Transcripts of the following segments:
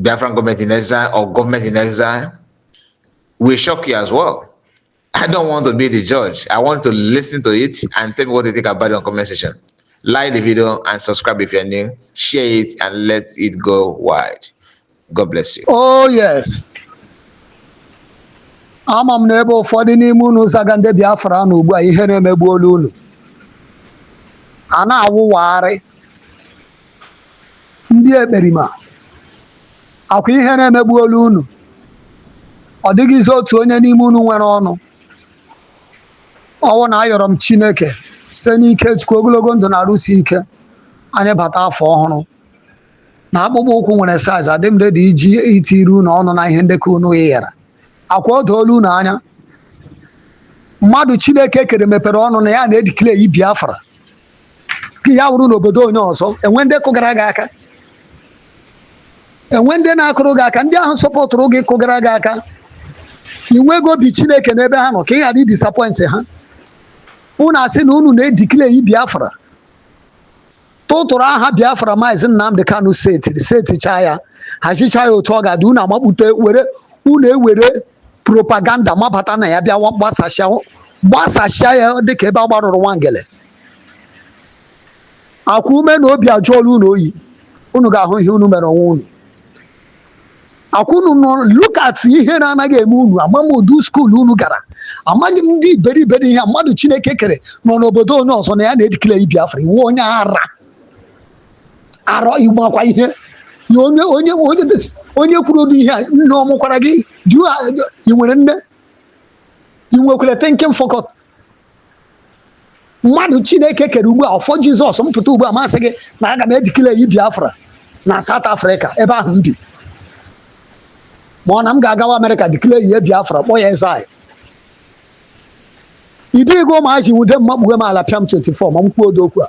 Biafran government in exile or government in exile will shock you as well. I don't want to be the judge. I want to listen to it and tell me what you think about it on comment section. Like the video and subscribe if you're new. Share it and let it go wide. God bless you. Oh, yes. ama m na ebe ụfọdụ n'ime unu zaga ndị Biafra na ugbu a ihe na-emegbu olu unu a na-awụwagharị ndị ekperima akwa ihere emegbuola unu ọ dịghịzi otu onye n'ime unu nwere ọnụ ọwụ na ayọrọ m chineke site n'ike chukwu ogologo ndụ na arụ isi ike anyị bata afọ ọhụrụ na akpụkpọ ụkwụ nwere size adị m ready iji itiri unu ọnụ na ihe ndekọ unu yara akwa o doola unu anya mmadụ chineke kere mepere ọnụ na ya na-edeclare biafra ka ya wụrụ n'obodo onye ọzọ enwe ndị kụgara gị aka enwe ndị na-akụrụ gị aka ndị ahụ sọpọtụrụ gị kụgara gị aka ị nweghị obi chineke n'ebe ha nọ ka ị ghara idisappoint ha unu asị na unu na-edeclare biafra tụtụrụ aha biafra maazị nnamdị kanu seti setichaa ya hazichaa ya otu ọ ga-adị unu amakpute were unu ewere propaganda mabata na ya bịa gbasasịa gbasasịa ya dịka ebe a gbarụrụ nwangele akwa ume na obi ajụọla unu oyi unu ga-ahụ ihe unu mere onwe unu akwa unu nọ look at ihere anaghị eme unu ama m ụdị skuul unu gara amaghị m ndị iberibe ihe mmadụ chineke kere nọ n'obodo onye ọzọ na ya na-edeclare Biafra ị wụ onye ara arọ ịmakwa ihe onye kwuru ụdị ihe a nne ọ mụkwara gị ị nwere nne ị nwekwara thinking faculty mmadụ chineke kere ugbu a ọfọ jizọs mpụta ugbu a masị gị na aga m edeclare biafra na south africa ebe ahụ m bi ma ọ na m ga-agawa amerịka declare biafra kpọọ ya eze anyị ịdịghị ụmụazị wude m makpughe m ala pịa m 24 ma m kwuo ụdị okwu a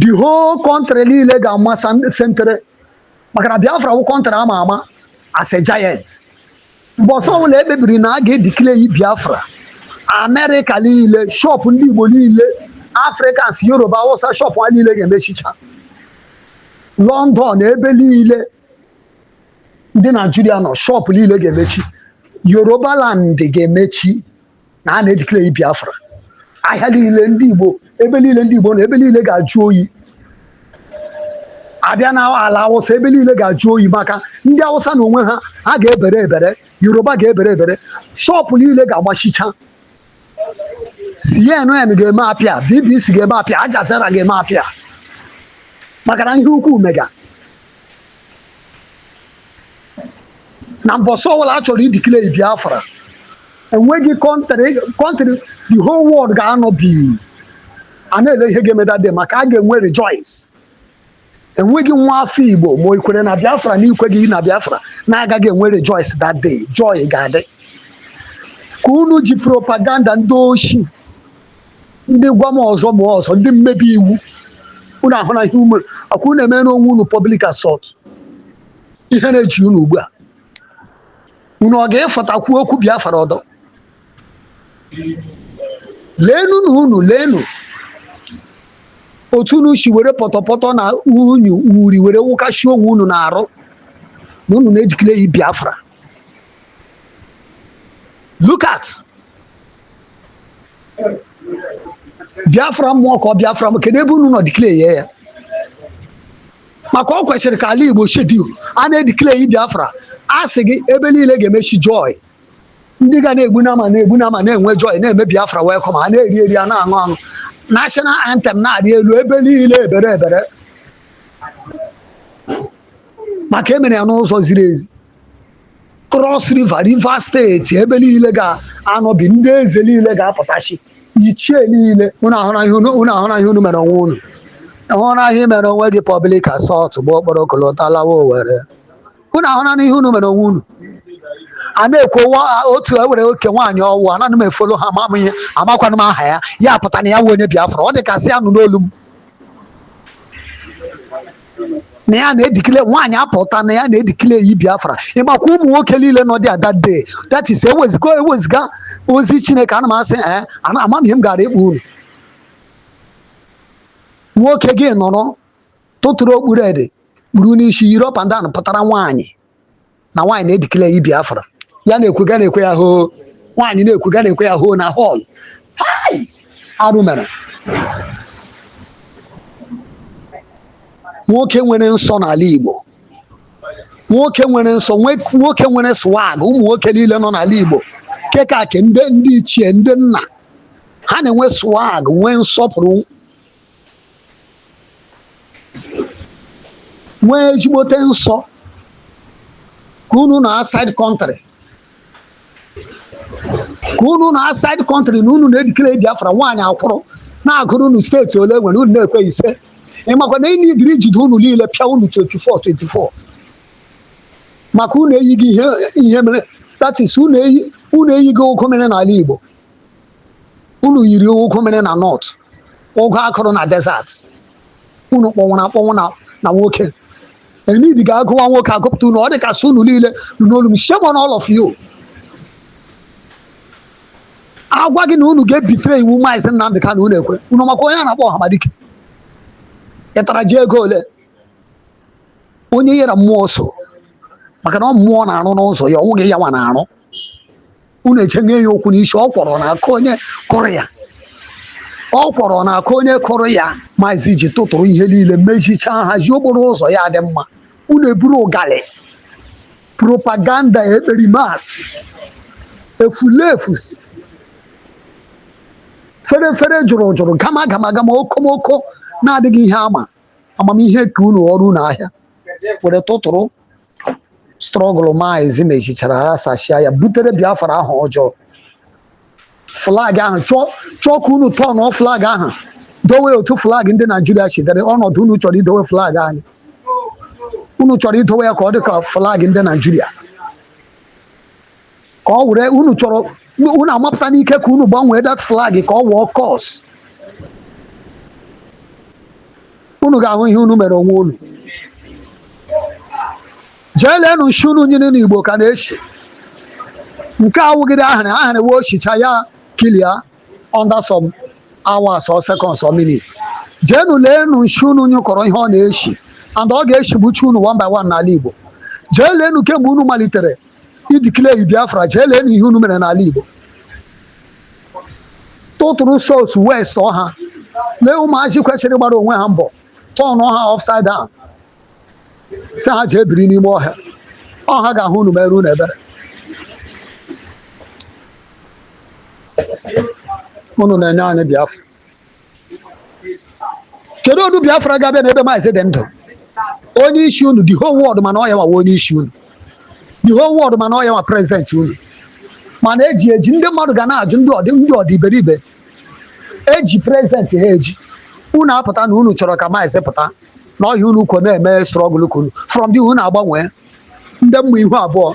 the whole country niile ga-ama sentere maka na biafra wụ country ama ama as a giant mbọsị ọwụla ekpebiri na a ga-edeclare biafra amerịka niile shọpụ ndị igbo niile africans yoruba awụsa shọpụ ha niile ga-emechicha london ebe niile ndị naijiria nọ shọpụ niile ga-emechi yoruba land ga-emechi na a na-edeclare Biafra ahịa niile ndị Igbo ebe niile ndị Igbo na ebe niile ga-ajụ oyi abịa na ala awụsa ebe niile ga-ajụ oyi maka ndị awụsa na onwe ha ha ga-ebere ebere yoruba ga-ebere ebere shọpụ niile ga-agbachicha CNN ga-eme appear BBC ga-eme appear Al Jazeera ga-eme appear maka na ihe ukwu mega na mbọsị ọbụla a chọrọ ideclare biafra enweghị country the whole world ga-anọ bi a na-ele ihe ga-eme that day maka a ga-enwe rejoice enweghị nwa afọ igbo ma i kwere na biafra na i kweghị na biafra na-agaghị enwe rejoice that day joy ga-adị ka unu ji propaganda ndị oshi ndị gwa m ọzọ ma ọzọ ndị mmebi iwu unu ahụna ihe ume akwa unu emena onwe unu public assault ihe na-eji unu ugbu a unu ọ ga-efotakwu okwu Biafra ọdọ leenu na unu leenu otu unu si were pọtọpọtọ na unyu uri were wụkasị onwe unu na-arụ na unu na-edeclare Biafra look at biafra mmụọ ka ọ biafra m kedu ebe unu nọ declare ya maka ọ kwesịrị ka ala igbo shut down a na-edeclare biafra a sị gị ebe niile ga-emechi joy ndị ga na-egbu nama na-egbu nama na-enwe joy na-eme biafra welcome a na-eri eri a na-aṅụ aṅụ national anthem na-arị elu ebe niile ebere ebere maka e mere ya n'ụzọ ziri ezi Cross River Rivers steeti ebe niile ga-anọbi ndị eze niile ga-apụtachi ichie niile unu ahụna ihe unu unu ahụna ihe unu mere onwe unu ịhụna ihe i mere onwe gị public assault bụ okporo kolota lawa owere unu ahụna ihe unu mere onwe unu a na-ekwu wa- otu e were oke nwaanyị ọwụ anaghị m efolo ha ama m ihe amakwanụ m aha ya ya pụta na ya wụ onye biafra ọ dị ka sị anụ n'olu m na ya na-edeclare nwaanyị apụta na ya na-edeclare biafra ịmakwa ụmụ nwoke niile nọ there that day that is eweziga eweziga ozi chineke ana m asị ee ana ama m ihe m gara ịkpọ unu nwoke gị nọrọ tụtụrụ okpu red kpuru n'isi yiri up and down pụtara nwaanyị na nwaanyị na-edeclare Biafra ya na-ekwuga a na-ekwe ya hoo nwaanyị na-ekwuga a na-ekwe ya hoo na hall hai arụ mere nwoke nwere nsọ n'ala Igbo nwoke nwere nsọ nwe- nwoke nwere swag ụmụ nwoke niile nọ n'ala Igbo kekake ndị ndị ichie ndị nna ha na-enwe swag nwee nsọpụrụ nwee ezigbote nsọ ka unu nọ outside country ka unu nọ outside country na unu na-edeclare Biafra nwaanyị akwụrụ na-agụrụ unu steeti ole e nwere unu na-ekwe ise ị makwa na e needịrị ijide unu niile pịa unu 24 24 maka unu eyighị ihe ihe mere that is unu eyi unu eyighị ụgụ mịrị n'ala Igbo unu yiri ụgụ mịrị na north ụgụ a kụrụ na desert unu kpọnwụrụ akpọnwụ na na nwoke enid ga-agụwa nwoke agụpụta unu ọ dị ka sị unu niile nụ n'olu m shame on all of you a gwa gị na unu ga-ebitere iwu maazị Nnamdi Kanu unu ekwe unu makwa onye a na-akpọ ọhamadike ị tara ji ego ole onye yere mmụọ so maka na ọ mmụọ na-arụ n'ụzọ ya ọ wụghị ya nwa na-arụ unu echenye ya okwu n'isi ọkwụrụ na-aka onye kụrụ ya ọkwụrụ na-aka onye kụrụ ya maazị ji tụtụrụ ihe niile mezichaa hazie okporo ụzọ ya dị mma unu eburu ụgalị propaganda ekperimas efulefu fere fere jụrụ jụrụ gama gama gama okomoko na-adịghị ihe ama amamihe ke unu ghọrọ unu ahịa were tụtụrụ struggle maazị mezichara ha sachia ya butere biafra aha ọjọọ flag ahụ chọọ ka unu tọnụọ flag ahụ dowe otu flag ndị naijiria si dịrị ọnọdụ unu chọrọ idowe flag anyị unu chọrọ idowe ya ka ọ dị ka flag ndị naijiria ka ọ were unu chọrọ unu amapụta n'ike ka unu gbanwee that flag ka ọ wụọ kọs unu ga-ahụ ihe unu mere onwe unu jee leenụ nshị unu nyụrụ n'igbo ka na-eshi nke a wụghị ahịrị ahịrị wee o shichaa ya clear under some hours or seconds or minutes jeenụ leenụ nshị unu nyụkọrọ ihe ọ na-eshi and ọ ga-eshigbucha unu one by one n'ala igbo jee leenụ kemgbe unu malitere ideclare biafra jee leenụ ihe unu mere n'ala igbo tụtụrụ souls wasteọ ha lee ụmụazị kwesịrị gbara onwe ha mbọ tọnụọ ha upside down sị ha jee biri n'ime ọhịa ọ ha ga-ahụ unu mere unu ebere unu na-enye anyị biafra kedu otu biafra ga-abịa n'ebe maazị dị ndụ onye isi unu the whole world ma na ọ ya nwa wụ onye isi unu the whole world ma na ọ ya wụ president unu mana eji eji ndị mmadụ ga na-ajụ ndị ọ dị iberibe eji president ha eji unu apụta na unu chọrọ ka maazị pụta na ọ ya unu kwọ na-eme struggle ke unu from there unu agbanwee ndị mmụọ ihu abụọ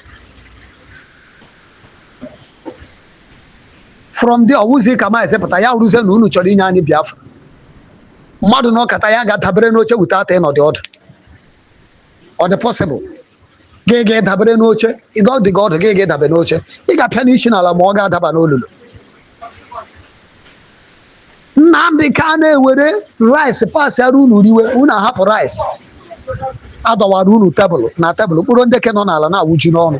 from there ọ wụzi ka maazị pụta ya rụzie na unu chọrọ inye anyị biafra mmadụ nọkata ya gaa dabere n'oche without ịnọdụ ọdụ ọ dị possible gị gaa dabere n'oche ị nọdịghị ọdụ gị gaa dabe n'oche ị ga-apịa isi n'ala ma ọ ga-adaba n'olulu nnamdi kanu ewere rice pasịara unu riwe unu ahapụ rice a dọwara unu tebụl na tebụl mkpụrụ nde ke nọ n'ala na-awụju n'ọnụ